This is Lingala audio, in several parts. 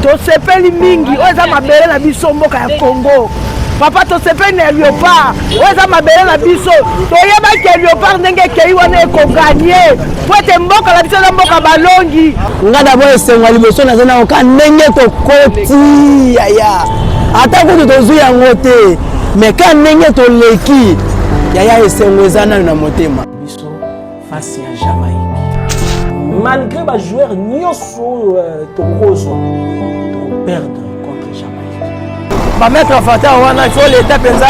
tosepeli mingi oyo eza mabele na biso mboka ya congo papa tosepeli na leopard oyo eza mabele na biso toyebaki ya leopard ndenge ekei wana ekoganye po ete mboka na biso eza mboka balongi nga dabo esengo ya liboso naza nango ka ndenge tokoti yaya ata kutu tozwi yango te me ka ndenge toleki yaya esengo eza nano na motema face ya Jamaïque. Malgré ba joueurs nioso euh, tokozwa tokoperdre contre Jamaïque. Ba mettre fata wana il faut l'État penza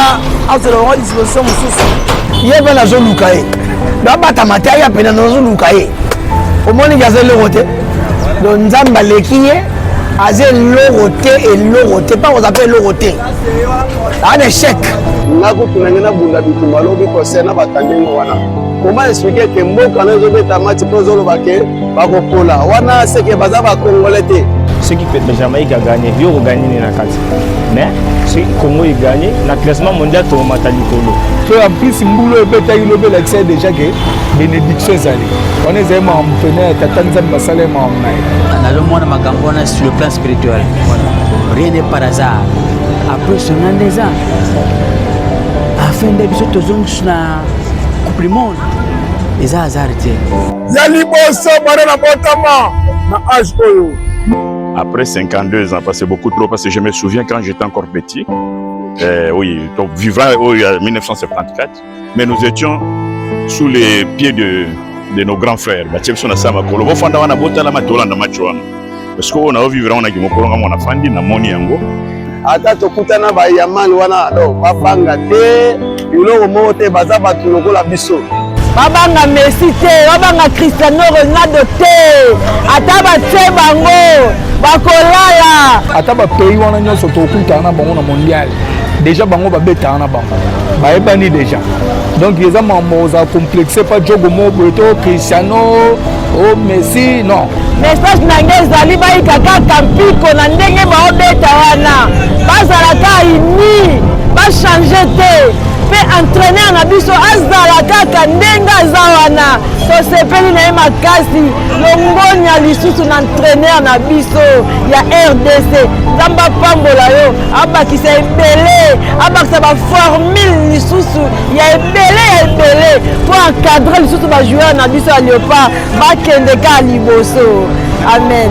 azala bango disposition mosusu. Ye mpe nazoluka ye babatama te aya pene nazoluka ye omoni ke aza eloko te donc nzambe aleki ye aza eloko te eloko te mpa koza mpe eloko te aa na échec nakutuna nge nabunda bitumba lobi kose na batangi ngo wana Comment expliquer que mboka nayo ezobeta match mpo ezoloba ke bakopola wana seke baza bakongole te soki jamaïque aganye yo okoganye nini na kati mais soki congo eganye na classement mondial tokomata likolo to en plus mbulo ebetaki lobi elakisa ye déjà ke bénédiction ezali wana ezali makambo mpena ya tata nzambe basala ye makambo na ye nazomona makambo wana sur le plan spirituel rien n'est par hasard après sona nde eza afin nde biso tozongi na coupe du monde eza hasard te ya liboso bana na botama na age oyo après 52 ans parce que beaucoup trop parce que je me souviens quand j'étais encore petit euh, oui donc vivant au 1974 mais nous étions sous les pieds de, de nos grands frères batie biso na sama kolo bofanda wana botalama tolanda match wana parce que oyo nayo vivre yango na kimokolo nga mwana fandi namoni yango ata tokutana bayamal wana do babanga te biloko moko te baza bato lokola biso babanga messi te babanga cristiano ronaldo te ata batie bango bakolala ata bapays wana nyonso tokutana na bango na mondial déjà bango babetaka na bango bayebani déjà donc eza makambo ozala complexe pa jogo moko boye to cristiano o oh, messi non message na ngai ezali bayika kaka mpiko na ndenge baobeta wana bazala ka uni bachange te mpe entraîneur na biso azala kaka ndenge aza wana tosepeli na ye makasi longonya lisusu na entraîneur na biso ya rdc nzambe apambola yo abakisa ebele abakisa baformule lisusu ya ebele ya ebele mpo encadre lisusu bajoueur na biso ya leopard bakende kaka liboso amen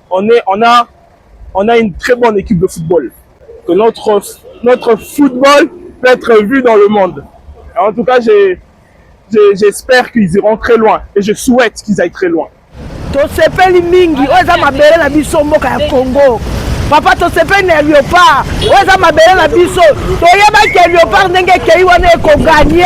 On est, on a, on a une très bonne équipe de football. Que notre, notre football peut être vu dans le monde. En tout cas, j'espère qu'ils iront très loin et je souhaite qu'ils aillent très loin. tosepeli mingi oyo eza mabele na biso mboka ya congo papa tosepeli na leopard oyo eza mabele na biso toyebaki ya leopard ndenge ekei wana ekoganye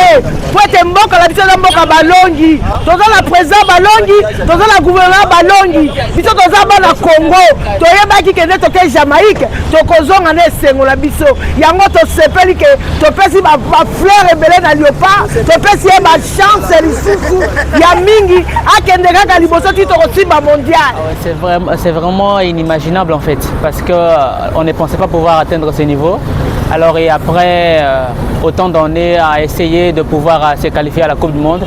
mpo ete mboka na biso eza mboka balongi toza na président balongi toza na gouvernement balongi biso toza bana congo toyebaki kende toke jamaïque tokozonga na esengo na biso yango tosepeli ke topesi bafleur ebele na liopa topesi ye bachance lisusu ya mingi akende kaka liboso ti tokosimba mondial ah c'est vraiment inimaginable en fait parce que euh, on ne pensait pas pouvoir atteindre ce niveau alors et après euh, autant d'années à essayer de pouvoir euh, se qualifier à la coupe du monde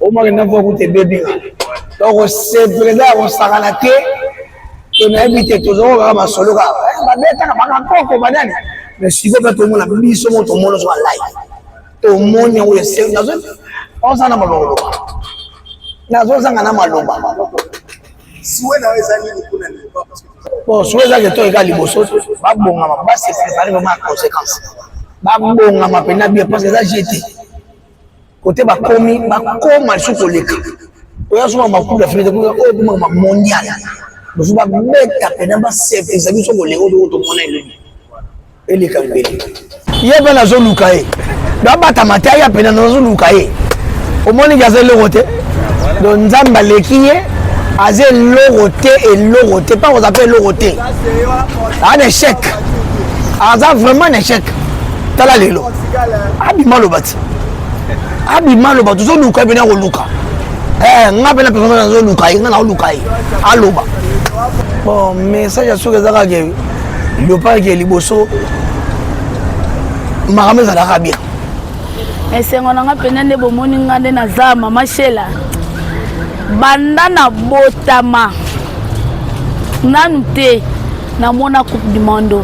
omoni na mpo kuta ebebi nga donc sepreda ya kosakana te to nayebi te tozoko kaka masolo kaka eh, babetaka bakakoko banani mais siko mpe tomona biso mo tomoni ozoka lai tomoni yango esengi nazo oza na maloba nazozanga na maloba siwe na eza nini kuna bon siwe eza keto eka liboso babongama base prépare vraiment ya conséquence babongama mpenza bien parce que eza jete kote bakomi bakoma lisusu koleka oyo azoma makubu ya fete kuna oyo ekomaka mondial mosusu babeta mpena basepelisa biso bolingo toko tomona elobi eleka mbele ye mpe nazoluka ye babatama te aya mpena nazoluka ye omoni ke aza eloko te do nzambe aleki ye aza eloko te eloko te mpa koza mpe eloko te an échec aza vraiment na échec tala lelo abima loba ti abima aloba tozoluka ye pene akoluka eh, nga mpe na personnage nazoluka ye nga naoluka ye aloba bon message ya soki eza kaka leopard ke liboso makambo ezalaka bien esengo na nga mpenza nde bomoni nga nde naza mama shela banda na botama nanu te namona coupe du monde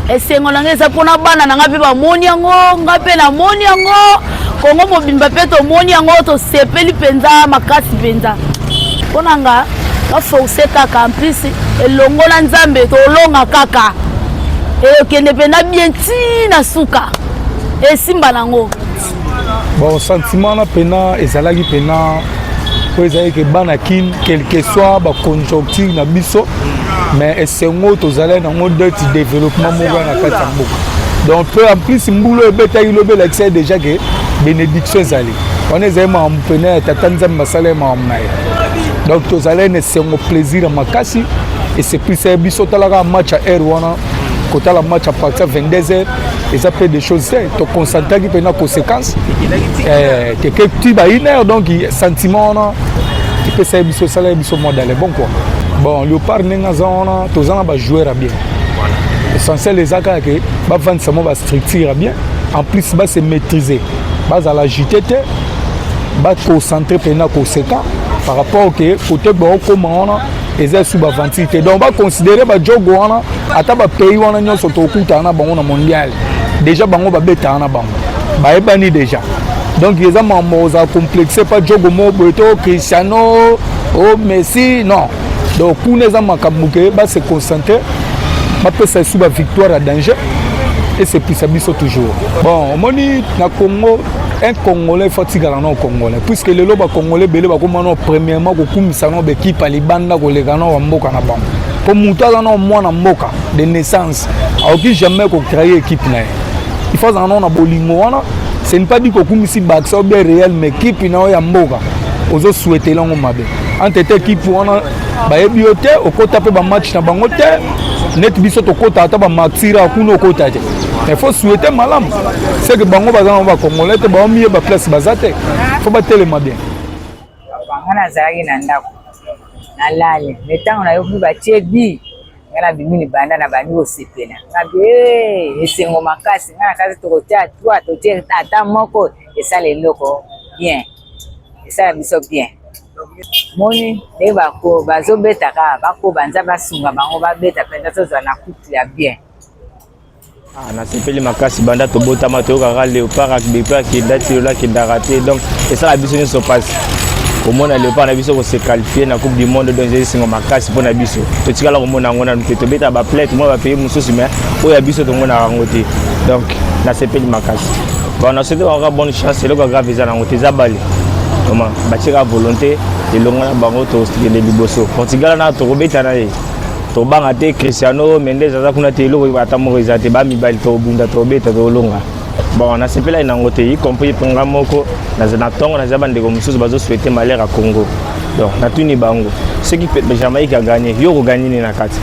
esengo na ngai eza mpona bana na ngai mpe bamoni yango ngai mpe namoni yango kongo mobimba mpe tomoni yango tosepeli mpenza makasi mpenza mpo na nga baforce kaka en plus elongo na nzambe tolonga kaka ekende mpenza bien ntina suka esimba nango bon sentiment wana mpena ezalaki mpena oyo ezalaki ke bana kin quelque soit baconjoncture na biso mais esengo tozalaki nango deti développement moko na kati ya mboka donc mpe en plus mbula oyo ebetaki lobi elakisaki déjà ke bénédiction ezali wana ezali makambo mpena ya tata nzambe basala ye makambo na ye donc tozalaki na esengo plaisir ya makasi eseplisaki biso talaka match ya heure wana kotala match ya partir 22 heures eza mpe des choses te toconcentraki mpe na conséquence eh, teke ti ba une heure donc sentiment wana epesaki biso esalaki biso mwa dale bon kua bon léopard ndenge aza wana toza na bajoueur ya bien essentiel eza kaka ke bavandisa mwa bastructure ya bien en plus base maîtrise bazala agite te baconcentre mpe na conséquent par rapport ke kote baokoma wana eza sous ba aventure te donc ba considérer ba jogo wana ata ba pays wana nyonso tokutana na bango na mondial déjà bango babetana na bango bayebani déjà donc eza mambo oza complexe pa jogo moko boye to cristiano o oh, messi non donc kuna eza makambo ke base concentre bapesa esu bavictoire ya danger esepisa biso toujours bon omoni na congo un congolais faut atikala nao congolais puisque lelo bacongolais ebele bakoma nao premièrement kokumisa nao baekipe ya libanda koleka nao ya mboka na bango mpo moto aza nao mwana mboka de naissance akoki jamais kocreye ekipe na ye il faut azala nao na bolingo wana ce ne pas dit kokumisi baxa ou bien réel mais ekipe na yo ya mboka ozosuetele yango mabe entre te ekipe wana bayebi yo te okota mpe bamatch na bango te neti biso tokota ata bamatira kuna okota te il faut souhaiter malamu c'est que bango baza nango bacongolais te baomiyeba place baza te fo batelema bien nga nazalaki na ndako nalali me ntango nayoki batie bi nga nabimi libanda na bandi kosepela ngabi eh, esengo makasi nga na kasi tokotia twa totie ata moko esala eloko bien esala biso bien moni nde bazobetaka bakoba nza basunga bango babeta mpenza tozwa na kutu ya bien Ah, nasepeli makasi banda tobotama toyokaka leopard akibekpe akenda ti lola akendaka te donc esala biso nyonso mpasi komona leopard na biso kose qualifie na coupe du monde donc ezali singo makasi mpo na biso totikala komona yango nanu te tobetaka baplay tomona bapays mosusu mais oyo ya biso tomonaka yango te donc nasepeli makasi bon nasoki kaka bonne chance eloko ya grave eza nango te eza bale oma batyeka volonté elongo na bango tokende liboso portugal na tokobeta na ye tobanga te cristiano mendes aza kuna te eloko ata moko eza te bamibali tobunda tobeta tolonga bon nasepelaki nango te y compris mpo nga moko na ntongo naza bandeko mosusu bazoswete malheur ya congo donc natuni bango soki jamaïque aganye yo okoganye nini na kati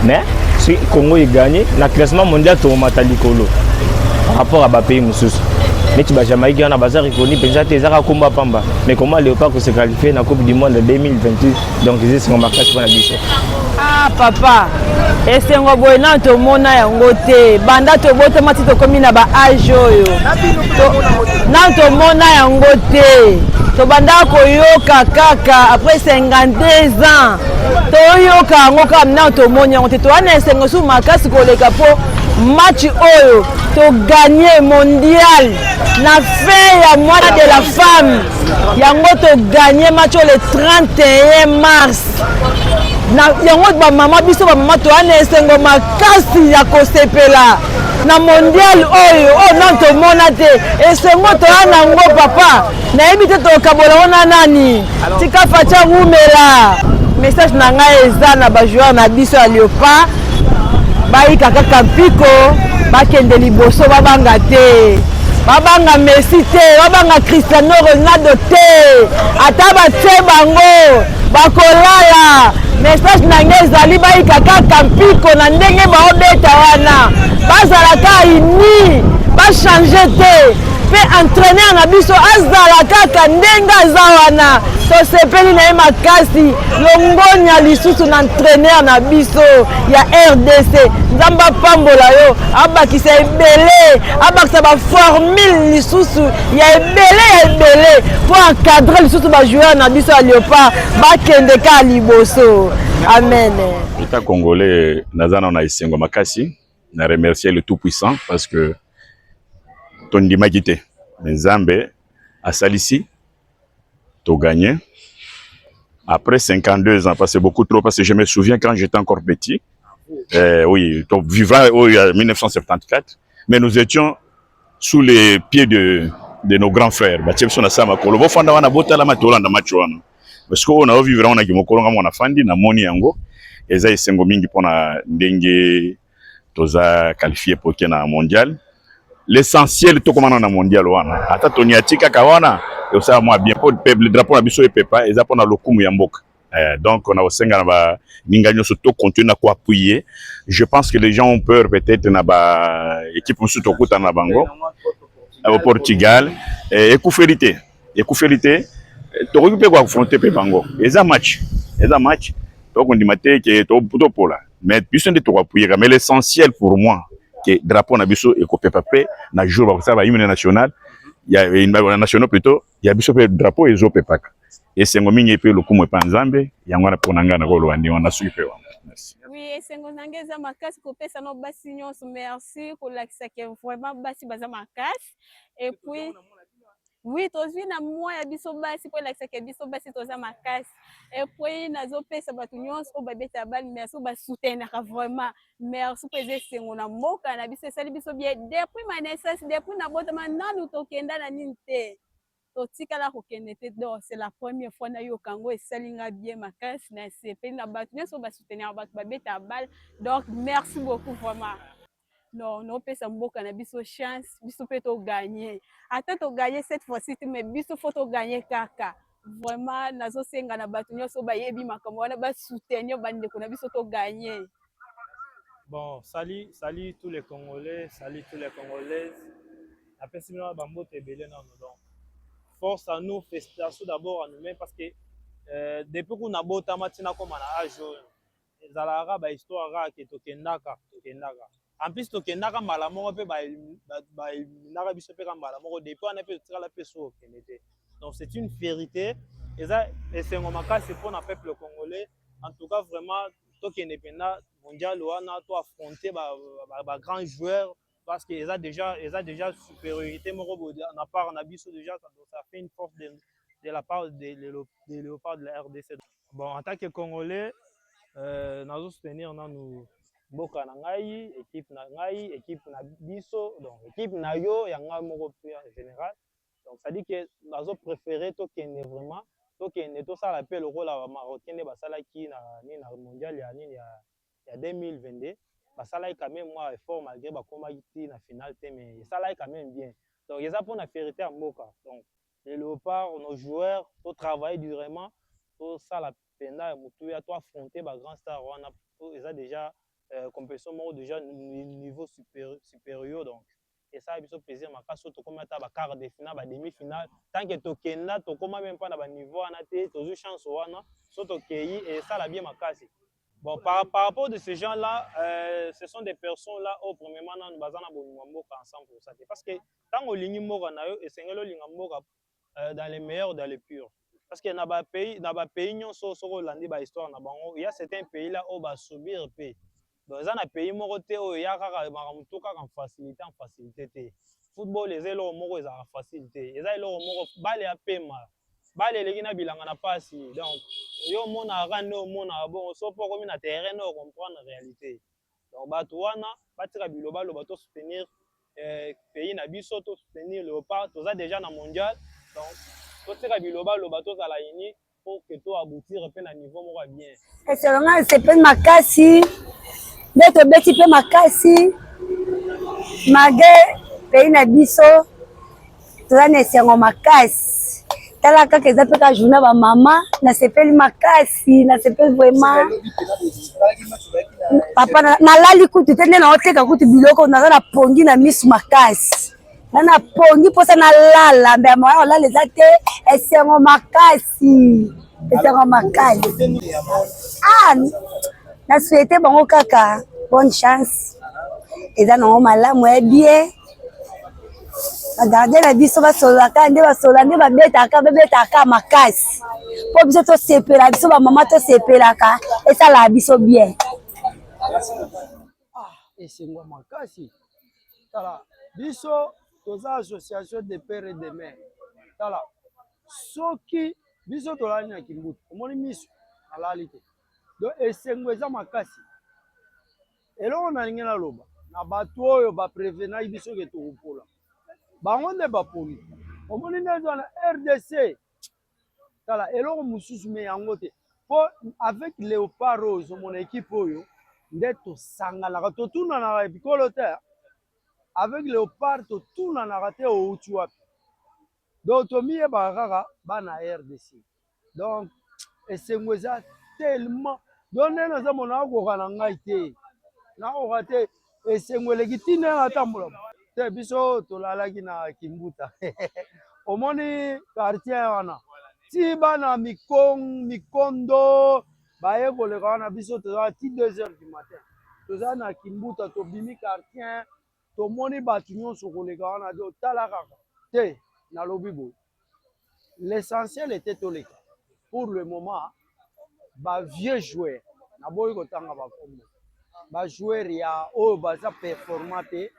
mais soki congo eganye na classement mondial tokomata likolo par rapport ya bapays mosusu neti bajamaïque wana baza reconi mpenza te ezaka nkombo ya pamba mais comment léopard kosekalifie na coupe du monde 2028 donc eza esengo makasi mpo na biso ah papa esengo boye nano tomona yango te banda tobotama ti tokomi na baage oyo nano tomona yango te tobandaka koyoka kaka après 52 ans toyoka yango kaka nano tomoni yango te toya na esengo susu makasi koleka mpo match oyo toganye mondial na fin ya mwana de la femme yango toganye match oyo le 31 mars na yango bamama biso bamama toya na esengo makasi ya kosepela na mondial oyo oyo nano tomona te esengo toya na yango papa nayebi te tokabola ngo na nani tika faca wumela message na ngai eza na bajoueur na biso ya leopard bayika kaka mpiko bakende liboso babanga te babanga messi te babanga cristiano ronaldo te ata batye bango bakolala message na ngai ezali bayika kaka mpiko na ndenge baobeta wana bazala ka ini bachange te mpe entraîneur na biso azala kaka ndenge aza wana tosepeli na ye makasi longonya lisusu na entraîneur na biso ya rdc nzambe apambola yo abakisa ebele abakisa baformule lisusu ya ebele ya ebele mpo encadre lisusu bajoueur na biso ya leopard bakende kaka liboso amen eta congolais naza nao na esengo makasi na remercier le tout puissant parce que tondimaki te me nzambe asalisi to gagne après 52 ans parce que beaucoup trop parce que je me souviens quand j'étais encore petit euh, oui donc vivant au 1974 mais nous étions sous les pieds de de nos grands frères batie biso na saa makolo bofanda wana botalama tolanda match wana parce que oyo nayo vivre wana kimokolo nga mwana fandi namoni yango eza esengo mingi mpona ndenge toza qualifie mpo ke na mondial l'essentiel tokomana na mondial wana ata toniati kaka wana ekosala mwa bien mpo peuple drapeau na biso epepa eza mpo na lokumu ya mboka eh, donc na kosenga na baninga nyonso tocontinue na koappuye je pense que les gens ont peur peut-être na baéquipe mosusu tokutana na bango au portugal eh, ekufeli te ekufeli te tokoki mpe koaffronte mpe bango eza match eza match tokondima te ke topola mais biso nde tokoapuyeka mais l'essentiel pour moi ke drapeau na biso ekopepa mpe na jour bakosala bahymne national ya nationaux plutôt ya biso mpe drapeau ezopepaka esengo mingi epe lokumu epa nzambe yango wana mpo na ngai nakoloba ndenge wana soki mpe wana oui esengo na ngai eza makasi kopesa na basi nyonso merci kolakisa ke vraiment basi baza makasi epuis Oui, tozwi na moi ya biso basi mpo elakisaka biso basi toza makasi epuis nazopesa bato nyonso oyo babetaka bale merci oyo basoutenaka vraiment merci mpo eza esengo na mboka na biso esali biso bie depuis ma naissance depuis nabotama nanu tokenda na nini te totikala kokende te do c'est la première fois nayoka yango esali nga bie makasi na sepeli na bato nyonso oyo basoutenaka bato babetaka bale donc merci beaucoup vraiment non non pesa mboka na biso chance biso pe to gagner ata to gagner cette fois ci mais biso faut to gagner kaka vraiment nazo senga na bato nyonso bayebi makambo wana ba soutenir ba ndeko na biso to gagner bon salut salut tous les congolais salut tous les congolaises napesi bino ba mbote ebele nano donc force à nous félicitation d'abord à nous-mêmes parce que euh, depuis kuna botama tina koma na age oyo ezalaka kaka ba histoire kaka ke tokendaka tokendaka en plus tokendaka mbala moko mpe baeliminaka biso mpe ka mbala moko depuis wana mpe totikala mpe so okende te donc c'est une vérité eza esengo makasi mpo na peuple congolais en tout cas vraiment tokende mpenza mondial wana to affronter ba, ba, ba, ba grand joueur parce que eza déjà eza déjà supériorité moko boye na part na biso déjà ça, ça fait une force de, de la part des de, de léopards de la RDC bon en tant que congolais euh, nazo soutenir nanu mboka na ngai équipe na ngai équipe na biso donc équipe na yo ya ngai moko plus en général donc ça dit que nazo préférer tokende vraiment tokende tosala mpe lokola bamarocain nde basalaki na nini na mondial ya nini ya ya 2022 basalaki quand meme mua effort malgre bakomaki ti na finale te mais esalaki quand meme bien donc eza pona fierite ya mboka donc les leopards nos joueurs to travailler durement tosala penda ya mutuya to affronter ba grand star wana po eza dejà euh, competition moko dejà niveau super, supérieur donc esala biso plaisir makasi oyo tokomi ata ba quart de finale ba demi finale tant que tokenda tokoma meme pas na ba niveau wana te tozwi chance wana so tokeyi esala bien makasi bon par, par rapport de ces gens là euh, ce sont des personnes là oyo premièrement nanu baza na bolingo ya mboka ensemble pour ça te parce que ntango olingi mboka na yo esengeli olinga mboka euh, dans les meilleurs dans les purs parce que na ba pays na ba pays nyonso soki olandi ba histoire na bango il y a certains pays là oyo ba subir pe donc eza na pays moko te oyo ya kaka makambo to kaka en facilité en facilité te football eza eloko moko ezalaka facile te eza eloko moko bale ya pema bale eleki na bilanga na pasi donc yo omonaka nde omonaka bongo so mpo okomi na terrain nde okomprendre réalité Donc batu wana batika biloba loba to soutenir eh, pays na biso to soutenir Leopard toza déjà na mondial donc totika biloba loba tozala ini pour que to aboutir pe na niveau moko ya bien. Eselo nga sepeli makasi nde tobeti pe makasi mage pays na biso toza na esengo makasi tala kaka eza mpe kaka journa bamama nasepeli makasi nasepeli vraiment papa nalali kutu te nde naoteka kutu biloko naza na pongi na misu makasi nga na pongi mposa nalala mbe moya olala eza te esengo makasi ezaka makali ah, na souhaite bango kaka bonne chance eza nango malamu ya bie bagarde na biso basololaka nde basolola nde babetaka babetaka makasi mpo biso tosepela biso bamama tosepelaka esalaka biso bien ah, esengo makasi tala biso toza association de pere de mer tala soki biso tolali na kimbutu omoni miso alali te donc esengo eza makasi eloko nalingi naloba na bato oyo baprevenaki biso ke tokopola bango nde bapoli omoni nde ezwa na rdc tala eloko mosusu me yango te mpo avec leopard oyo ozomona ekipe oyo nde tosanganaka totunanaka bikolo te avec leopard totunanaka te outi wapi Donc tomiyebaka kaka bana RDC. Donc esengo eza tellement donc nde naza mona akoka na ngai te nakoka te esengo eleki ntina ya natambola te biso tolalaki na kimbuta omoni quartier wana ti bana mikondo baye koleka wana biso tozala ti 2 heures du matin toza na kimbuta tobimi quartier tomoni bato nyonso koleka wana te otala kaka te nalobi boye l'essentiel ete toleka pour le moment ba vieux joueur naboyi kotanga bakombo bajoueur ya oyo baza performant te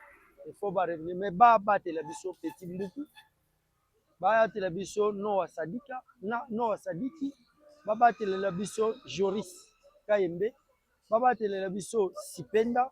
ifo barevenir me babatela biso petit mbuku bayatela biso noa sadika na noa sadiki babatelela biso joris kayembe babatelela biso sipenda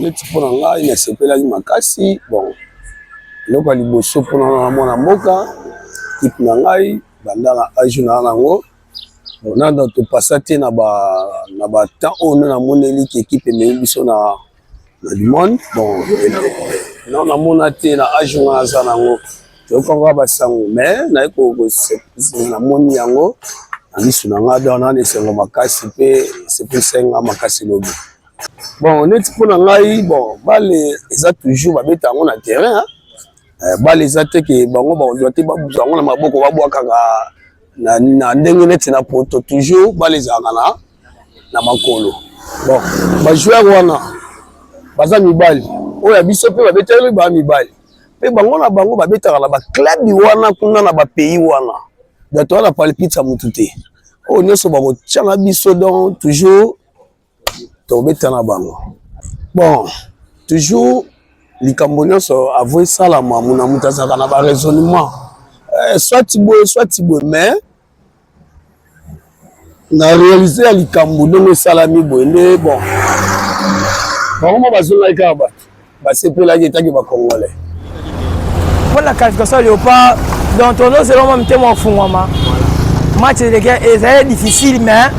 neti mpo na ngai nasepelaki makasi bon eloko ya liboso mpo na na mwana mboka kipe na ngai banda na age na yango nanda topasa te na batemps oyo nde namoneli ki ekipe emei biso na na limone bon non namona te na age nga aza na yango toyokaka basango mais naye namoni yango na misu na nga don nani esengo makasi mpe esepesenga makasi lobi bon neti mpo na ngai bon bale eza toujours babeta yango na terrain eh, bale eza te ke bango bakozwa te babuzwa yango na maboko babwakaka na ndenge neti na poto toujours bale ezalaka na na makolo bon bajoueur wana baza mibali oyo ya biso mpe babeteli baa mibali mpe bango na bango babetaka na baklabi wana kuna na bapays wana donc toza na palpite ya motu te oyo nyonso bakotyanga biso donc toujours tobeta na bango bon toujours likambo nyonso avo esalama mona moto azalaka na baraisonnement eh, soit boye soit boye mais na réalise ya likambo ndenge esalami boye nde bon bango moko bazongaki kaka bato basepelaki etaki bacongolais mpo na qualification ya léopard donc tondose elongo mitema ofungwama match eleke ezali difficile mais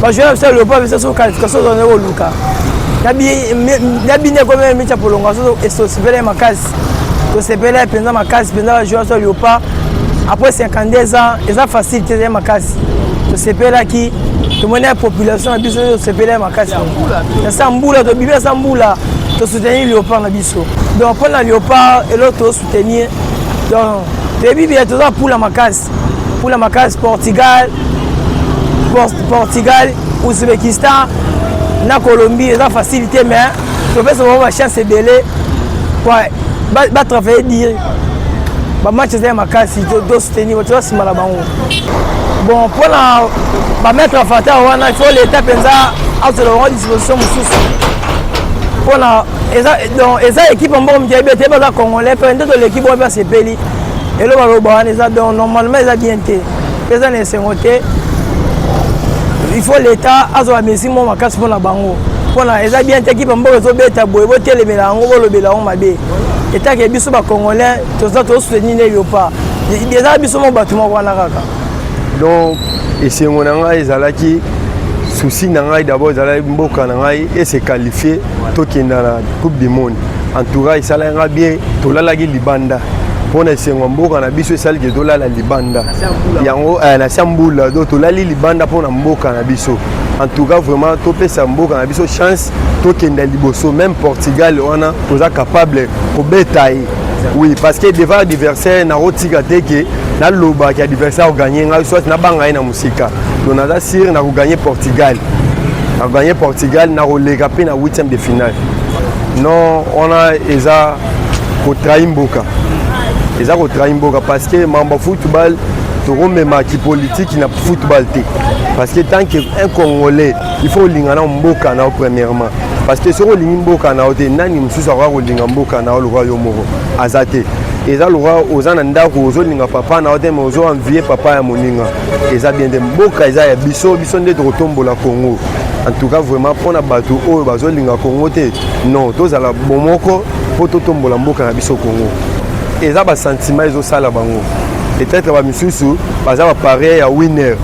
bajoueur na biso ya léopard biso so qualification tozali koluka na bine ekomi mica prolongation esosipele makasi tosepela mpenza makasi mpenza bajoueur so leopard après 52 ans eza facile te ezali makasi tosepelaki tomoni ya population na biso tosepela ya makasi na sa mbula tobibi ya sa mbula tosoutenir leopard na biso donc mpo na leopard eloko tosoutenir donc toyebi biya toza mpula makasi mpula makasi portugal portugal uzbekistan na colombie eza facile te mais topesa bango bachance ebele batravaille dire bamatch eza ya makasi tosoutenir toza nsima na bango bon mpona bamettre en fata wana il faut l'état mpenza azwela bango disposition mosusu mpona eza équipe mboko moke yebi ete baza congolais mpe nde toleki bango mpe asepeli eloko baloba wana eza donc normalement eza bien te eza na esengo te il faut l'état azwa mesure moko makasi mpo na bango mpona eza bien te kipe mboka ezobeta boye botelemela yango bolobela yango mabe etake biso bacongolais toza tosoutenir ne yopa eza biso moko bato moko wana kaka donc esengo na ngai ezalaki souci na ngai d'abord ezalaki mboka na ngai ese qualifie tokenda na coupe du monde entoura esalaki nga bien tolalaki libanda mpo na esengo ya mboka na biso esali ke tolala libanda yango eh, na sia mbula do tolali libanda mpo na mboka na biso en tout cas vraiment topesa mboka na biso chance tokenda liboso même portugal wana toza capable kobeta ye oui parce que devant adversaire nakotika te ke nalobaki adversaire oganye ngai soit nabanga ye na sika donc naza sire na koganye portugal na koganye portugal na koleka mpe na 8e de finale non wana eza kotrahi mboka eza kotrahi mboka parce que mambo football tokomema kipolitiki na football te parce que tant que un congolais il faut olinga na mboka na yo premièrement parce que soki olingi mboka na yo te nani mosusu akoya kolinga mboka na yo lokola yo moko aza te eza lokola oza na ndako ozolinga papa na yo te mai ozo envie papa ya moninga eza bien te mboka eza ya biso biso nde tokotombola congo en tout cas vraiment mpo na bato oyo bazolinga congo te non tozala bomoko mpo totombola mboka na biso congo eza basentiment ezosala bango peut-être bamisusu baza bapareil ya winner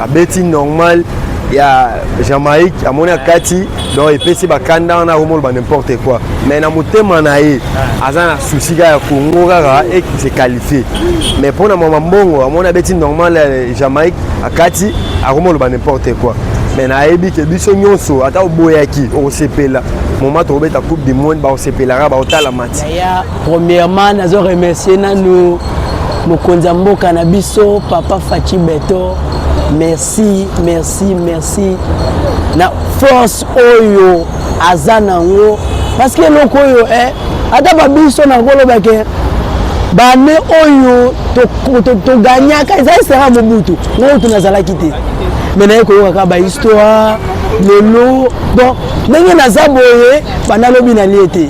abeti normal ya jamaïque amoni akati donc epesi bakanda wana akomoloba n'importe quoi mais na motema na ye aza na souci kaka ya congo kaka et se qualifie mais mpo na mama mbongo amoni abeti normal ya eh, jamaïque akati akomoloba n'importe quoi mais nayebi ke biso nyonso ata oboyaki okosepela moma tokobeta coupe du monde bakosepelaka bakotala mati premièrement nazo remercier nanu mokonzi ya mboka na biso papa faci beto merci merci merci merci na force oyo aza nango parce que eloko oyo eh, ata babiso nakoloba ke bane oyo toganyaka eza esera mobutu oyo tunazalaki te me naye koyokaka bahistoire lelo donc ndenge naza boye banda lobi nalie te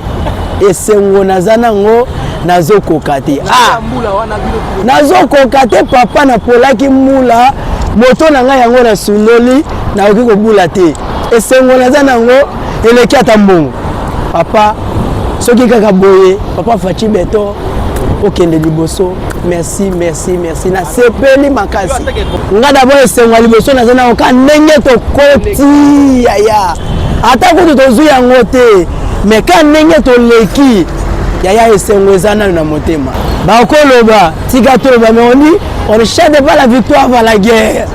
esengo naza nango nazokoka te ah. nazokoka te papa napolaki mula moto na ngai yango nasundoli nakoki kobula te esengo naza nango eleki ata mbongo papa soki kaka boye papa faci beton okende liboso merci merci merci nasepeli makasi nga dabord esengo ya liboso naza nango ka ndenge tokoti yaya ata kutu tozwi yango te me ka ndenge toleki yaya esengo eza nano na motema bakoloba tika toloba me oni on ne chante pas la victoire va la guerre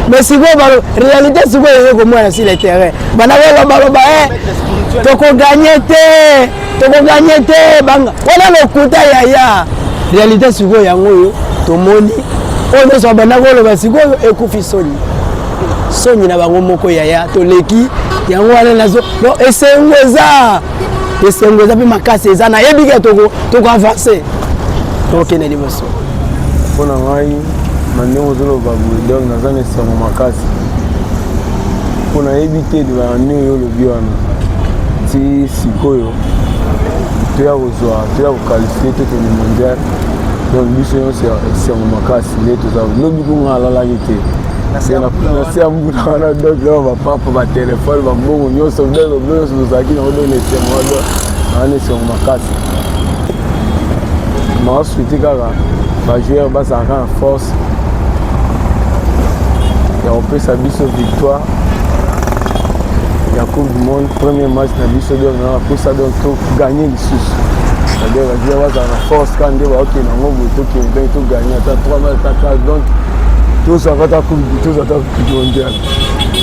mais sikoyo balo réalité sikoyo eye komona sur le terrain bana balobaloba e tokoganye te tokoganye te banga wana lokuta yaya réalité sikoyo yango oyo tomoni oyo nyonso babanda koloba sikoyo ekufi soni soni na bango moko yaya toleki yango wana nazo no esengo eza esengo eza mpe makasi eza nayebi ke toko avance tokokende liboso mpo na ngai na ndenge ozoloba boye donc naza na esengo makasi mpo nayebi te libala nde oyo olobi wana ti sikoyo toya kozwa toya kokalifie tokende mondial donc biso nyonso esengo makasi nde toza lobi kunga alalaki te nasi ya mbula wana donc na bapapa batelefone bambongo nyonso biloko nyonso tozalaki na odona esengo wana wana esengo makasi maasuiti kaka bajoueur bazalaka na force ya kopesa biso victoire ya coupe du monde premier match na biso donc na bapusa donc gagner lisusu c'est-à-dire bajuer bazala na force kaka nde baokende yango boye tokende ndenge togagner ata 3 ma ata 4 donc tozwaka ata tozwa ata mondial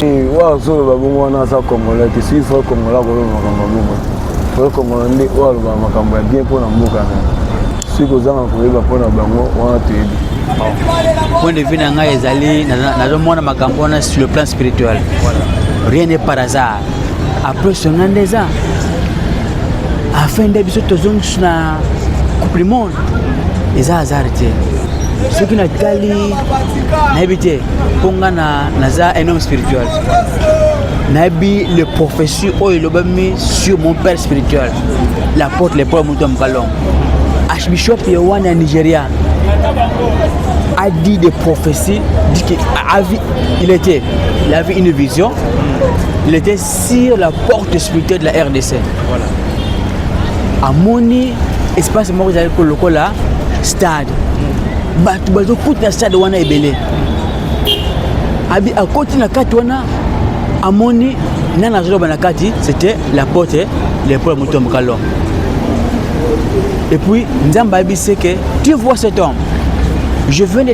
oyo azoloba bongo wana aza congolais te soki fo congolais akoloba makambo ya bongo te fo congolais nde oyo alobaka makambo ya bien mpo na mboka na soki kozanga koyeba mpo na bango wana toyebi point de vue na ngai ezali nazomona makambo wana sur le plan spirituel rien n'est par hasard apres songa nde eza afin nde biso tozongisi na coupe du monde eza hasard te soki natali nayebi te mpo nga naza un homme spirituel nayebi le prophétie oyo elobami sur mon père spirituel l'apôtre le paul moto ya mokalongo archbishop ya wana ya nigeria a dit des prophéties dit que a vu il était il avait une vision il était sur la porte spirituelle de la rdc voilà. amoni espace moko ezali kolokola stade bato bazokuta na stade wana ebele abi akoti na kati wana amoni nani azoloba na kati c'était la porte le pole moto ya mokalo et puis nzambe ayebi se que tu vois cet homme je viens de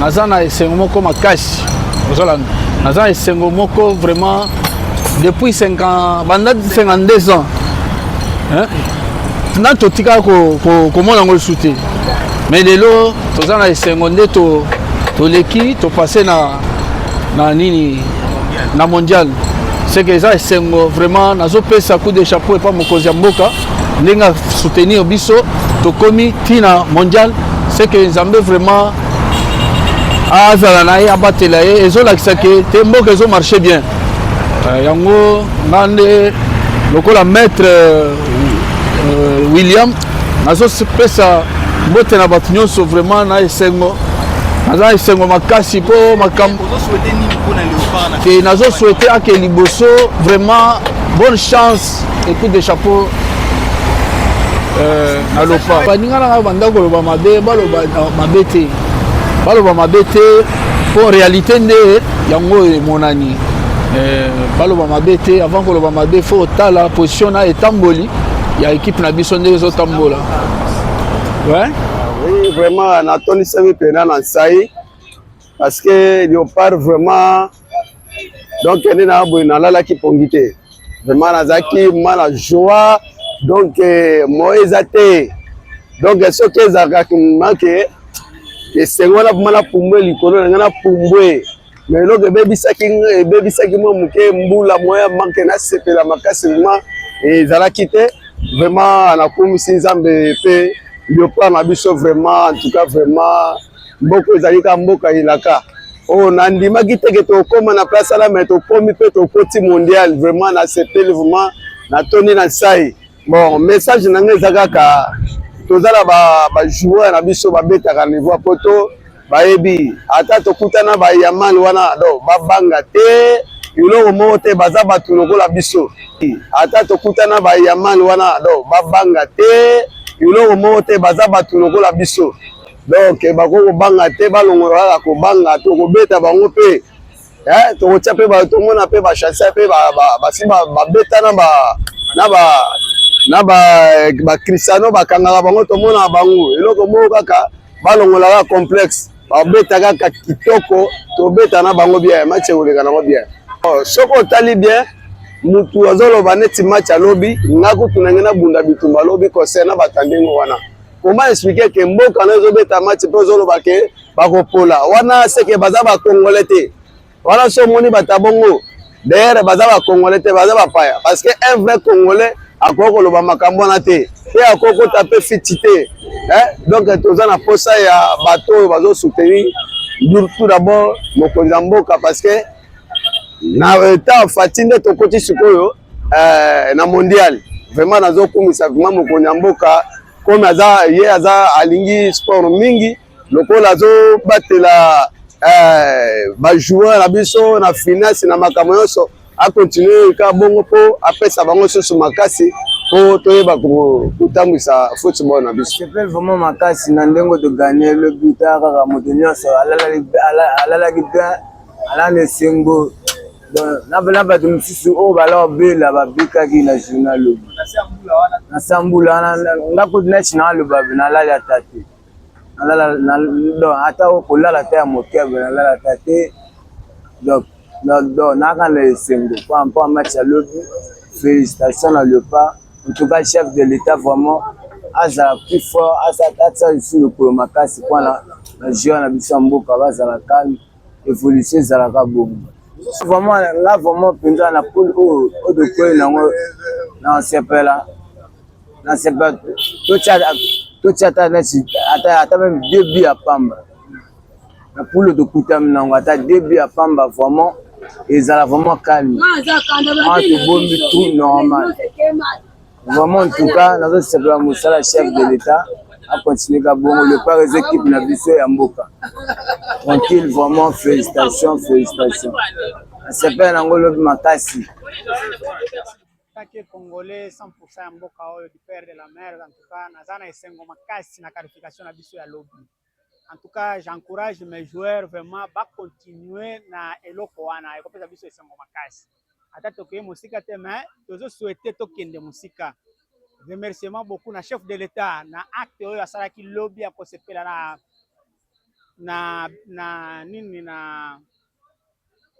naza na esengo moko makasi ozolanda naza na esengo moko vraiment depuis 50 banda 52 ans nani totika komona yango lisusu te mais lelo toza na esengo nde toleki topasse na na nini na mondial seke eza esengo vraiment nazopesa coup de chapeau epa mokonzi ya mboka ndenge a soutenir biso tokomi ti na mondial c'est que nzambe vraiment azala na ye abatela ye ezolakisa ke te mboka ezo marche bien euh, yango nga nde lokola maître euh, euh, william nazopesa mbote na bato nyonso vraiment na esengo naza esengo makasi mpo makambo te nazoswete ake liboso vraiment bonne chance Et coup de chapeau euh, na lopa baninga na ngai banda koloba mabe baloba euh, mabe te baloba mabe te mpo réalité nde yango oyo emonani euh, baloba mabe te avant koloba mabe fo otala position na etamboli ya équipe na biso nde ezotambola ouais? oui vraiment natondisami mpena na nsai parce que leopard vraiment donc kende na boye nalalaki pongi te vraiment nazalaki mwana joie donc eh, moye eza te donc soki ezalaka kimake esengo wana vraimen napumbwe likolo na ngai napumbwe me eloko ebebisaki ebebisaki mwa moke mbula moya manke nasepela makasi vraimen ezalaki te vraiment nakumisi nzambe mpe liopart na biso vraiment en tout cas vraiment Mboka ezali ka mboka elaka oyo oh, nandimaki teke tokoma na place ala mai tokomi mpe tokoti mondial vraiment nasepeli vraiment natondi na nsai bon message na ngai eza kaka toza na bajoueur na biso babetaka niveau ya poto bayebi ata tokutana bayamani wana do babanga te eloko moko te baza bato lokola biso ata tokutana bayamani wana do babanga te eloko moko te baza bato lokola biso donc bakoki kobanga te balongola kaka kobanga tokobeta bango mpe eh, tokotya mpe tomona mpe bachansa mpe basi babeta na ba na ba na ba eh, bakristiano bakangaka bango tomona bango eloko moko kaka balongola kaka complexe babeta kaka kitoko tobeta na bango bien match ekoleka nango bien oh, soki otali bien mutu azoloba neti match alobi nga kutu nange nabunda bitumba alobi concert na batandenge wana Comment expliquer que mboka na ezobeta match mpe ozoloba ke bakopola wana seke baza bakongole te wana so omoni bata bongo dayere baza bakongole te baza bapaya parce que un vrai congolais akoki koloba makambo wana te mpe akoki kota mpe fiti te eh, donc toza na mposa ya bato oyo bazosoutenir tout d'abord mokonzi ya mboka parce que na etat fati nde tokoti sikoyo eh, na mondial vraiment nazokumisa vraiment mokonzi ya mboka comme aza ye aza alingi sport mingi lokola azobatela eh, bajoueur na biso na finance na makambo nyonso akontinue kaka bongo mpo apesa bango susu makasi mpo toyeba kotambwisa football na biso sepel vraiment makasi na ndenge toganye le buta kaka moto nyonso alalaki bien alana esengo na bato mosusu oyo balor bela babikaki na journal lobi na sambula nga kutu neti na aloba nalali ata te ata kolala ata ya moke nalala ata te donc naka na esengo po mpo match ya lobi félicitation na lepa en tout cas chef de l'état vraiment azala plus fort asala lisusu lokolo makasi mpona na joueur na biso ya mboka bazala calme evolution ezalaka bongo vraiment nga vraiment mpenza na pole oyo oyo tokweli nango na sepela na sepela totya ata neti ata meme deux bi ya pamba na pole tokutami nango ata deux bi ya pamba vraiment ezala vraiment calme wana tobombi tout normal Vraiment en tout cas nazo sepela musala chef de l'etat a continuer ka bongo le par les équipes na biso ya mboka tranquille vraiment félicitations félicitations sepela nango lobi makasi taki congolais 100% ya mboka oyo du père de la mère en tout cas naza na esengo makasi na qualification na biso ya lobi en tout cas j'encourage mes joueurs vraiment ba continuer na eloko wana ekopesa biso esengo makasi ata tokeye mosika te mais tozo souhaiter tokende mosika remerciement beaucoup na chef de l'etat na acte oyo asalaki lobi ya kosepela na na na nini na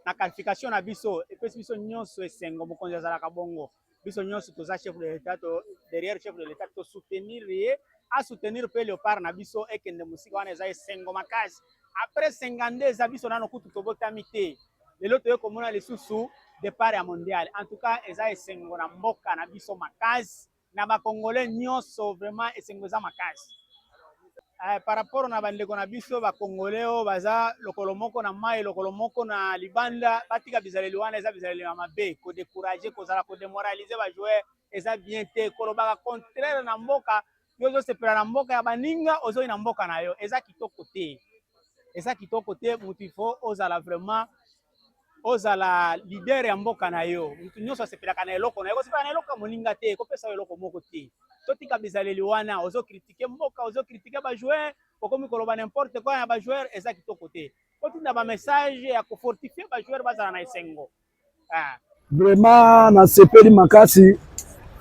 na qualification na biso epesi biso nyonso esengo mokonzi azalaka bongo biso nyonso toza chef de l'etat to derrière chef de l'etat to soutenir ye a soutenir pe leopard na biso ekende mosika wana eza esengo makasi après 52 eza biso nano kutu tobotami te lelo toye komona lisusu départ ya mondial en tout cas eza esengo na mboka na biso makasi na bakongole nyonso vraiment esengo eza makasi eh, par rapport na bandeko na biso bakongole oyo baza lokolo moko na mai lokolo moko na libanda batika bizaleli wana eza bizaleli ya mabe kodecourage kozala kodemoralize bajoueur eza bien te kolobaka contraire na mboka yo ozosepela na mboka ya baninga ozoi na mboka na yo eza kitoko te eza kitoko te motu ifo ozala vraiment ozala leader ya mboka na yo moto nyonso asepelaka na eloko na ye kosepela na eloko ya moninga te kopesa yo eloko moko te totika bizaleli wana ozo kritike mboka ozo kritike bajoueur okomi koloba n'importe quoi na bajoueur eza kitoko te kotinda bamessage ya kofortifie bajoueur bazala na esengo ah. Vraiment nasepeli makasi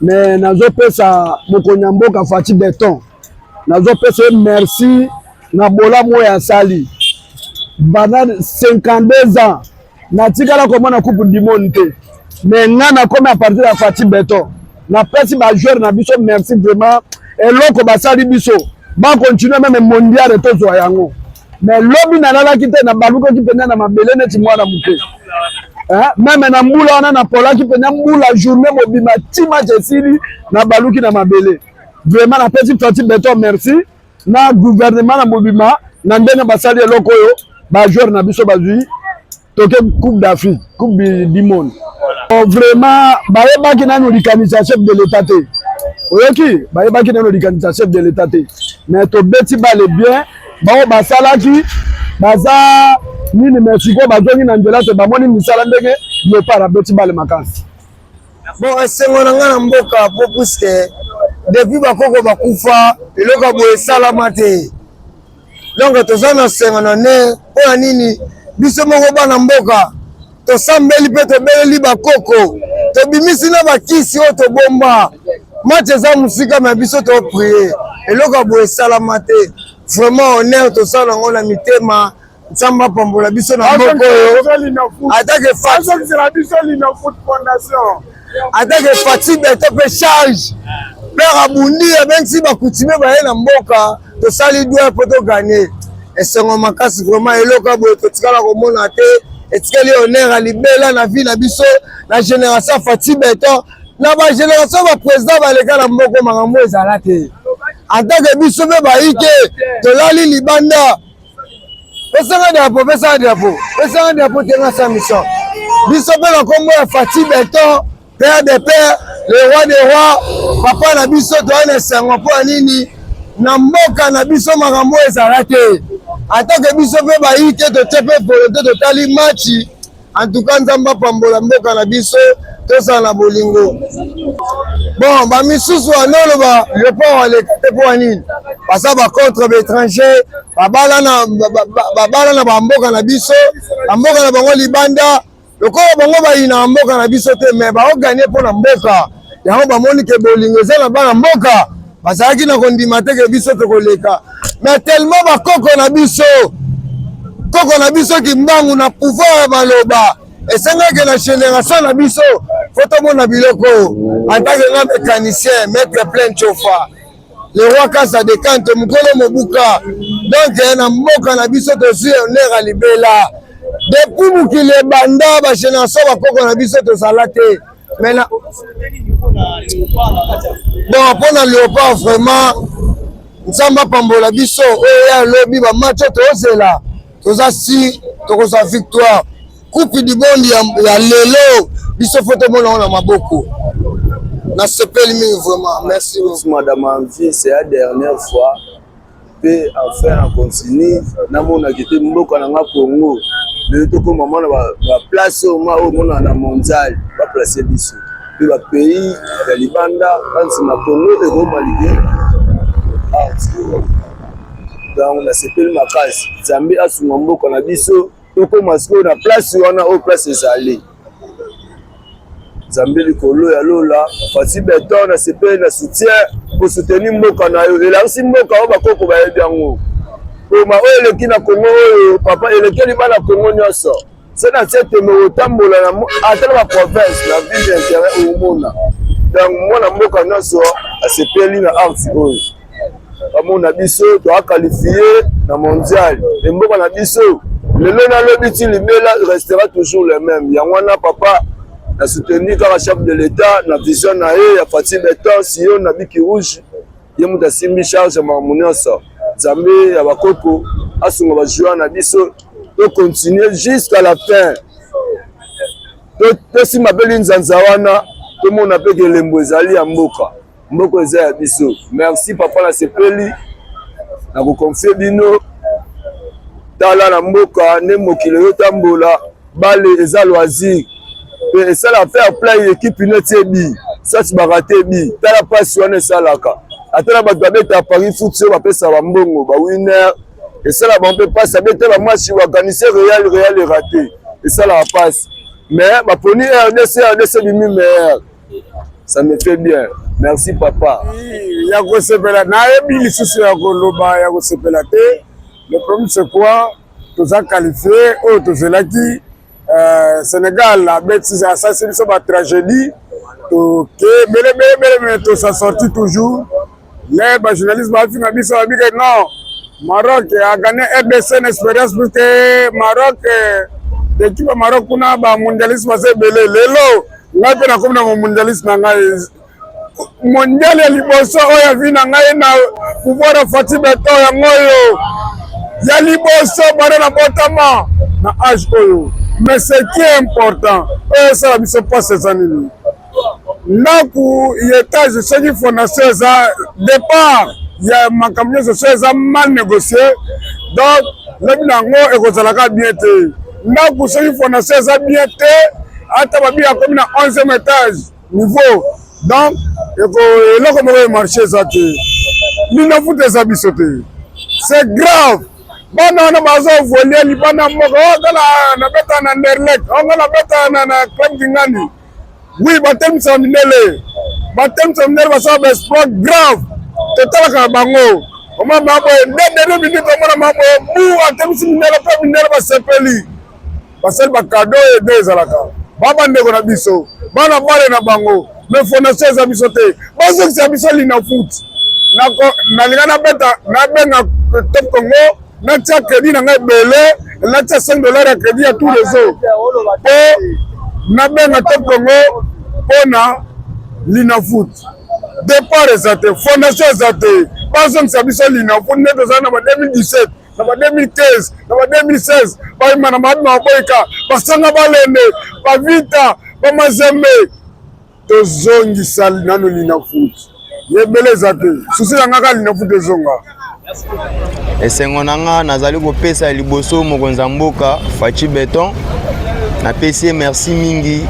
me nazopesa mokonzi ya mboka Fatshi Beton, nazopesa ye merci na bolamu oyo asali banda 52 ans natikala komona coupe du monde te me nga nakomi a partir ya Fatshi Beton, napesi bajoueur na biso merci vraiment eloko basali biso bakontinue meme mondiale tozwa yango. me lobi nalalaki te nabalukaki mpenza na mabele neti mwana moke eh, meme na mbula wana napolaki mpenza mbula journée mobima ti match esili nabaluki na mabele vraiment napesi fati beton merci na gouvernement na mobima na ndenge basali eloko oyo bajoueur na biso bazwi toke coupe d'afrique coupe du monde oh, vraiment bayebaki nanu likanisi ya chef de l'état te oyoki bayebaki nanu likanisi ya chef de l'état te mais tobeti bale bien baoyo basalaki baza nini mais sikoyo bazongi na nzela te bamoni misala ndenge leopard abeti bale makasi bon esengo na ngai na mboka po puiske depuis bakoko bakufa eloko ya boye esalama te donc toza na sengo na ne mpo na nini biso moko bana mboka tosambeli mpe tobeleli bakoko tobimisi na bakisi oyo tobomba match eza mosika me biso toprie eloko ya boye esalama te vraiment honneur tosala yango na mitema nzambe apambola biso na mboka oyo atake fat atake fati beto mpe charge père abundi abengisi bakutime baye na mboka tosali dwe mpo toganye esengo makasi vraiment eloko boye totikala komona te etikeli honneur ya libela na vie na biso na génération fati beton na bagénération baprésident baleka na mboko makambo ezala te atake biso mpe bayike tolali libanda pesanga drapo pesanga drapo pesanga drapo tenga sa mission biso mpe na nkombo ya fati beton père de père le roi de roi papa na biso toyai na esengo mpo ya nini na mboka na biso makambo ezala te atake biso mpe bayi te totie mpe volote totali matchi En tout cas Nzambe apambola mboka na biso tozala na bolingo. Bon ba misusu wana oloba leopard aleka te mpo ya nini baza ba contre ba étranger babala na babala na bamboka na biso bamboka na bango libanda lokola bango bayina mboka na biso te mais baoganie mpo na mboka yango bamoni ke bolingo eza na bana mboka bazalaki na kondima te ke biso tokoleka me tellement bakoko na biso koko na biso kimbangu na pouvoir ya maloba esengaki na generation na biso fo tomona biloko antake nga mécanicien maître plein chofa le roi kasa de kante mokolo mobuka donc eh, na mboka na biso tozwi honneur ya libela depuis mokili ebanda bagénération bakoko na biso tozala te mais na bon mpo na leopard vraiment nzambe apambola biso oyo ya lobi bamatch oyo tozela toza si tokozwa victoire kupi dibondi ya, ya lelo biso fo tomona yango na maboko nasepeli mingi vraiment merci madame anvi c'est la dernière fois Pe enfin en continue namona kete mboka na nga Congo lelo tokoma mwana ba place oyo ma oyo mona na mondial ba place biso pe ba pays ya libanda ba nsima Congo ekoma liki donc nasepeli makasi Nzambe asunga mboka na biso tokoma sikoyo na place wana oyo place ezali. nzambe likolo ya lola fasi beton na sepeli na soutien kosuteni mboka na yo elakisi mboka oyo bakoko bayebi yango poma oyo eleki na kongo oyo papa elekeli bana kongo nyonso se na se tembe kotambola ata na baprovince na ville ya interet okomona donc mwana mboka nyonso asepeli na arti oyo bamona biso toakalifie na mondial emboka na biso lelo nalobi ti libela restera toujours le même yango wana papa na soutenu kaka chef de l'état na vision na ye ya fati beton siyo na biki rouge ye moto asimbi charge makambo nyonso nzambe ya bakoko asunga bajoueur na biso tocontinue jusqu'à la fin tosimba mpe linzanza wana tomona mpe kelembo ezali ya mboka Mboko eza ya biso. Merci papa na sepeli na koconfie bino tala na mboka nde mokili eyotambola bale eza loisir mpe esala fair play ekipe neti ebi sasi barate ebi tala mpasi wana esalaka ata na bato babeta paris foot soki bapesa bambongo bawiner esala bango mpe mpasi abeta bamasi organise real real erate esalaka mpasi mais baponi rdc rdc bimi meilleur Ça me fait bien. Merci papa. Ya kosepela nayebi lisusu ya koloba ya kosepela te. Le problème c'est quoi? Toza qualifié oyo oh, tozelaki euh, Sénégal abeti asasi biso ba tragédie toke belebelebele mais tosa sorti toujours Nde ba journaliste bafinga biso babi ke non Maroc a gagné RDC na expérience plus que Maroc ekipe ya Maroc kuna ba mondialiste baza ebele lelo ngai mpe nakomi na mondialiste na ngai mondial ya liboso oyo avi na ngai na pouvoir ya Fatih Beton yango oyo ya liboso bana na botama na age oyo mais ce qui est important oyo esala biso mpasi eza nini ndako ya etage soki fondation eza départ ya makambo nyonso so eza mal négocier donc lobi na yango ekozalaka bien te ndako soki fondation eza bien te ata babi akomi na 11e étage niveau donc eloko moko ya marché eza te lino futa eza biso te c'est grave bana wana bazovolia libanda moko otala oh, nabeta na nderlek ongo oh, nabeta na club kingani Oui, batelemisa mindele, batelemisa mindele basala ba exploit grave, totalaka bango omama maboye nde dede minute omona maboye bu atemisi mindele mpe mindele basepeli basali bakado oyo nde ezalaka ba bandeko na biso bana bale na bango me fondation eza biso te bazokisa biso linafoot nalinga nabeta nabenga top congo natia credit na ngai ebele natia 5 dollar ya credit ya tout reseau mpo nabenga top congo mpo na linafoot départ eza te fondation eza te bazongisa biso linafoot nde tozali na ba 2017 na ba 2015 na ba 2016 bayima na mabi maboyika basanga balende bavita bamazembe tozongisa nano linafuti yebele eza te susi na nga kaka linafuti ezonga esengo na nga nazali kopesa liboso mokonzi ya mboka faci beton napesi ye merci mingi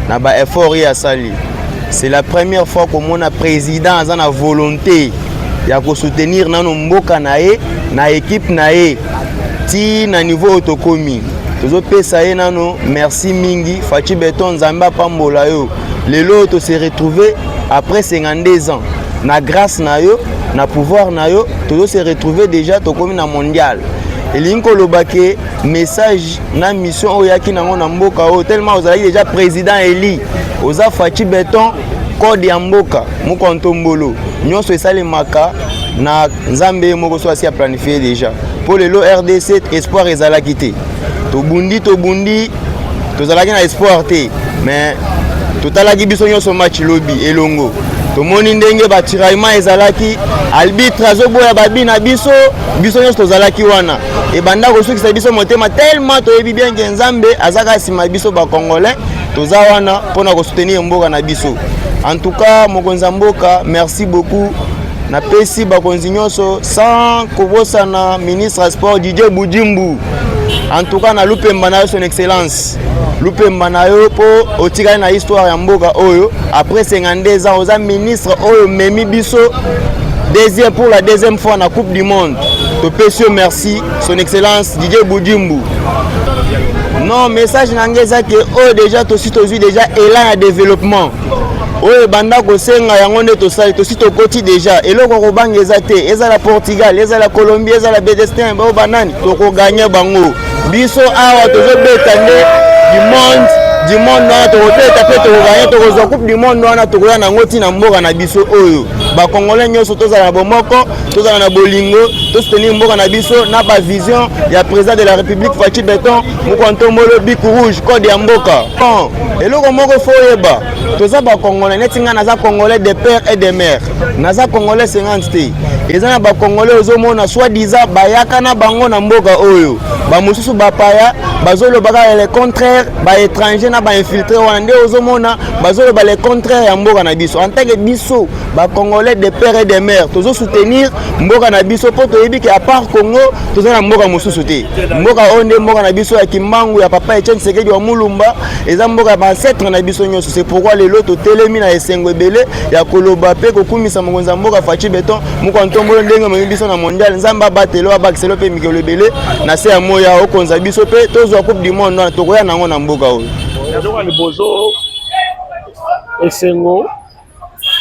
na ba effort ye asali c'est la première fois komona président aza na volonté ya kosoutenir nano mboka na ye na ekipe na ye ti na niveau oyo tokomi tozopesa ye nano merci mingi faci beton nzambe apambola yo lelo oyo tose retrouve après 52 ans na grâce na yo na pouvoir na yo tozose retrouve déjà tokomi na mondial elingi koloba ke message na mission oyo oyaki nango na mboka oyo tellement ozalaki déjà président eli oza faci beton Code ya mboka moko ntombolo nyonso esalemaka na Nzambe ye moko so asi a planifier déjà. Mpo lelo RDC espoir ezalaki te, tobundi tobundi, tozalaki na espoir te, mais totalaki biso nyonso match lobi elongo tomoni ndenge batiraillement ezalaki albitre azoboya babi na biso biso nyonso tozalaki wana ebanda kosukisa biso motema tellement toyebi bien ke nzambe azaka nsima biso bacongolais toza wana mpo na kosoutenir mboka na biso en tout cas mokonzi ya mboka merci beaucoup napesi bakonzi nyonso sans kobosana ministre ya sport didie budimbu en tout cas na lupemba na yo son excellence lupemba na yo mpo otikali na histoire ya mboka oyo après 52 ans oza ministre oyo omemi biso deuxième pour la deuxième fois na coupe du monde topesi yo merci son excellence didier budimbu non message na ngai eza ke oyo deja tosi tozwi deja elan ya développement oyo ebanda kosenga yango nde tosali tosi tokoti deja eloko ya kobanga eza te ezala portugal ezala colombie ezala bedestin bao banani tokoganye bango biso awa tozobeta nde du monde du monde wana tokobeta mpe tokoganye tokozwa coupe du monde wana tokoya nango ntina mboka na biso oyo bakongole nyonso tozala na bomoko tozala na bolingo tosoutenir mboka na biso na bavision ya président de la république faci beton mokwa ntombolo bik rouge code ya mboka bon eloko moko fo oyeba toza bakongolais neti ngai naza congolais de père et de mère naza congolais 50 te eza na bakongolais ozomona soit disant bayaka na bango na mboka oyo bamosusu bapaya bazolobaka le contraire baétranger na bainfiltre wana nde ozomona bazoloba le contraire ya mboka na biso en tant que biso ba congolais de père et de mère tozo soutenir mboka na biso mpo toyebi ke apart congo toza na mboka mosusu te mboka oyo nde mboka na biso ya kimbangu ya papa etienne sekedi wa mulumba eza mboka ya bancetre na biso nyonso se pourkui lelo totelemi na esengo ebele ya koloba mpe kokumisa mokonzi ya mboka faci beton moko ya ntombolo ndenge omemi biso na mondial nzambe abatelo abakiselo mpe mikolo ebele na se ya moya okonza biso mpe tozwa coupe du monde wana tokoya na yango na mboka oyo esengo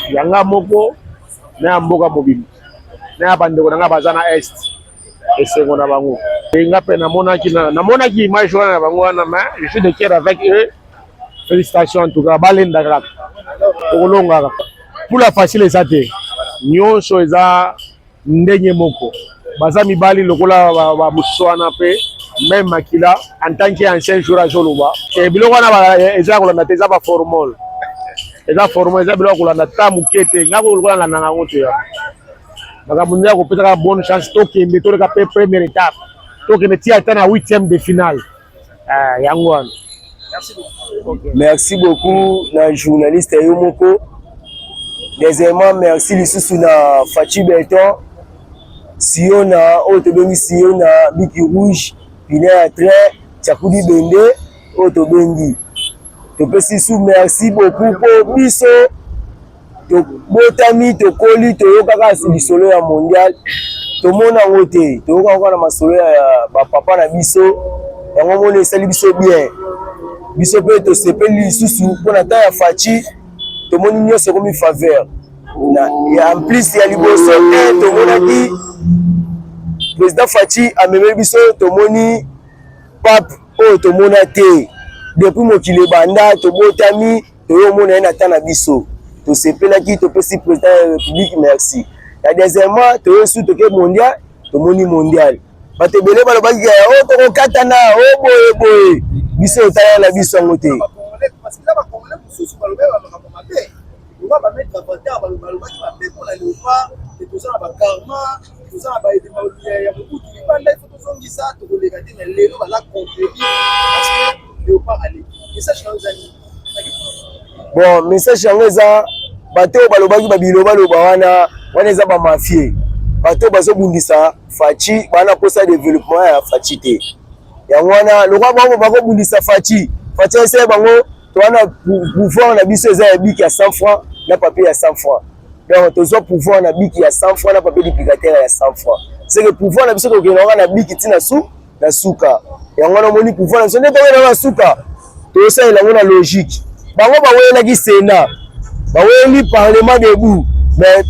ya nga moko na ya mboka mobimba na ya bandeko na nga baza na est esengo na bango e nga mpe namonaki namonaki image wana na bango wana mais je suis de cœur avec eux félicitations en tout cas balendaka kaka tokolongaka mpula facile eza te nyonso eza ndenge moko baza mibali lokola bamosusu wana mpe meme makila en tant que ancien jour azoloba e biloko wana e, eza ya kolanda te eza baformole eza formole eza biloko ya kolanda ta moke te ngai lokola landanga yango te yango makambo nde ya kopesaka bonne chance tokende toleka mpe première étape tokende ti ata na huitième de finale Ah, yango wana. Merci beaucoup. Okay. Merci beaucoup na journaliste yo moko. Deuxièmement, merci lisusu na Fatshi Beton. Siona oyo tobengi Siona Biki Rouge, Pina ya train, Chakudi Bende oyo tobengi. Topesi su merci beaucoup mpo biso tobotami tokoli toyoka kaka si lisolo ya mondial tomona yango te toyoka yango na masolo ya bapapa na biso yango mona esali biso bien biso mpe tosepeli lisusu mpo na temps ya faci tomoni nyonso ekomi faveur en plus ya liboso te tomonaki président faci amemeli biso tomoni pape oyo tomona te depuis mokili ebanda tobotami toyomona ye na temps na biso tosepelaki topesi president ya republique merci ya deuxièmement toye su toke mondial tomoni mondial bato ebele balobaki ya o oh, tokokatana o oh, boye boye biso etala na biso yango te toza na baedema ya mokutu libanda ifo tozongisa tokoleka te na lelo bala contredire parce que Bon, message yango eza bato oyo balobaki babilobaloba wana wana eza bamafie bato oyo bazobundisa faci bana kosa developpement ya faci te yango wana lokola bango bakobundisa faci faci ayesaya bango to wana pouvoir na biso eza ya biki ya 100 franc na papier ya 100 franc donc tozwa pouvoir na biki ya 100 franc na papier duplicateur ya 100 franc seke pouvoir na biso tokendaka na biki ntina su na suka yango wana omoni pouvoir na biso nde tokoyela na suka tosalela yango na logique bango bawelelaki sena baweleli parlement debout mais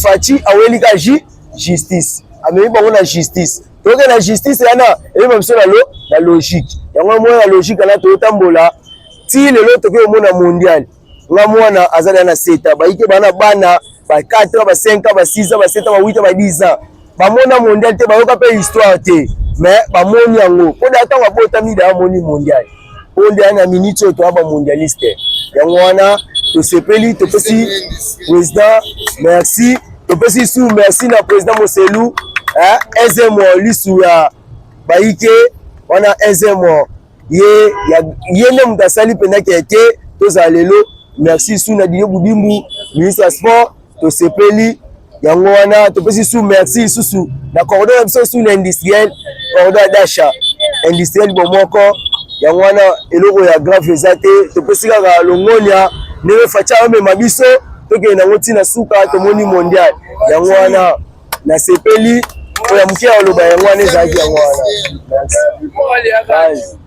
faci aweleli ka ji justice amemi bango na justice toke na justice yana eyeba biso na lo na logique yango omona na logique wana toyotambola ti lelo tokoki omona mondiale nga mwana aza na na 7 ans bayike bana bana ba 4 ans ba 5 ans ba 6 ans ba 7 ans ba 8 ans ba 10 ans bamona mondial te bayoka mpe histoire te mais bamoni yango mpo da ntango abotami da amoni mondial oyo nde na minute oyo toya ba mondialiste yango wana tosepeli topesi président merci topesi su merci na président moselu ezemo lisu ya bayike wana ezemo ye ya ye nde moto asali mpenza keke tozala lelo merci su na dino budimbu ministre ya sport tosepeli yango wana topesi su merci lisusu na cordon na biso su na industriel cordon ya dasha industriel bomoko yango wana eloko ya grave eza te topesi kaka longonia ndenge fatia amema biso tokende yango ntina suka tomoni mondial yango wana nasepeli oyo ya moke ya koloba yango wana ezalaki yango wana